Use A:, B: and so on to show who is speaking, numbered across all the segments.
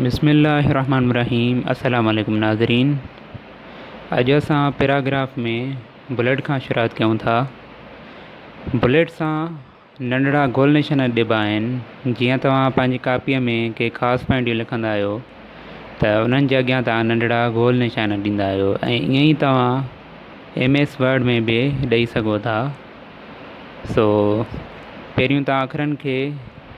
A: بسم الله الرحمن الرحيم السلام عليڪم ناظرين اڄ اسان پيراگراف ۾ بليٽ کان شروعات ڪيون ٿا بليٽ سان ننڍڙا گول نشان ڏبا آهن جيئن توهان پنهنجي ڪاپيء ۾ ڪي خاص پوائنٽيون لکندا آهيو ته انهن جي اڳيان توهان ننڍڙا گول نشان ڏيندا آهيو ۽ ائين ئي توهان ايم ايس ورڊ ۾ به ڏئي سگهو ٿا سو پهريون توهان اکرن کي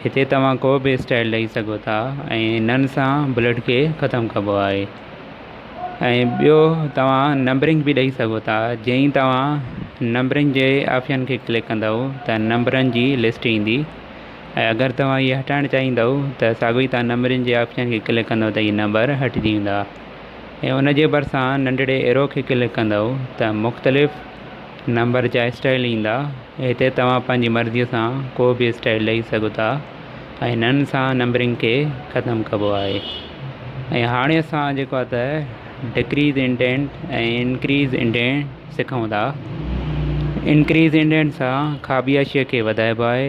A: هتي توهان ڪو به اسٽائيل ڏئي سگهو ٿا ۽ انهن سان بلڊ کي ختم ڪبو آهي ۽ ٻيو توهان نمبرنگ به ڏئي سگهو ٿا جئين ئي توهان نمبرنگ جي آپشن کي ڪلڪ ڪندؤ ته نمبرن جي لسٽ ايندي ۽ اگر توهان هي هٽائڻ چاهيندؤ ته ساڳو ئي توهان نمبرن جي آپشن کي ڪلڪ ڪندؤ ته هي نمبر هٽجي ويندا ۽ ان جي ڀرسان ننڍڙي ايرو کي ڪلڪ ڪندؤ ته مختلف نمبر جا اسٽائيل ايندا هتي توهان پنهنجي مرضي سان ڪو به اسٽائيل ڏئي سگهو ٿا ۽ هنن سان نمبرنگ کي ختم ڪبو آهي ۽ هاڻي اسان جيڪو آهي ته ڊڪريز انڊينٽ ۽ انڪريز انڊينٽ سکون ٿا انڪريز انڊينٽ سان کاٻي حاشيي کي وڌائبو آهي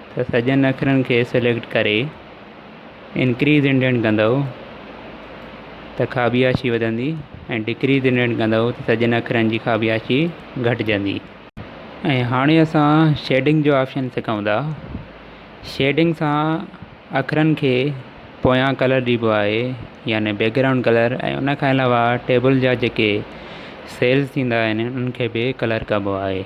A: ته سڄن اکرن کي سليڪٽ ڪري انڪريز انڊينٽ ڪندؤ ته خابياشي وڌندي ۽ ڊڪريز انڊينٽ ڪندؤ ته سڄن اکرن جي خابياشي گهٽجندي ۽ هاڻي اسان شيڊنگ جو آپشن سکون ٿا شيڊنگ سان اکرن کي پويان ڪلر ڏبو آهي يعني بيڪ گرائونڊ ڪلر ۽ ان کان علاوه ٽيبل جا جيڪي سيلز ٿيندا آهن انهن کي به ڪلر ڪبو آهي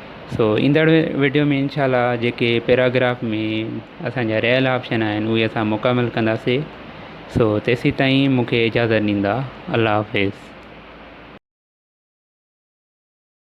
A: سو ايندڙ وڊيو ۾ انشاء الله جيڪي پيراگراف ۾ اسانجا رهيل آپشن آهن اهي اسان مڪمل ڪنداسي سو تيسين تائين مونکي اجازت ڏيندا الله حافظ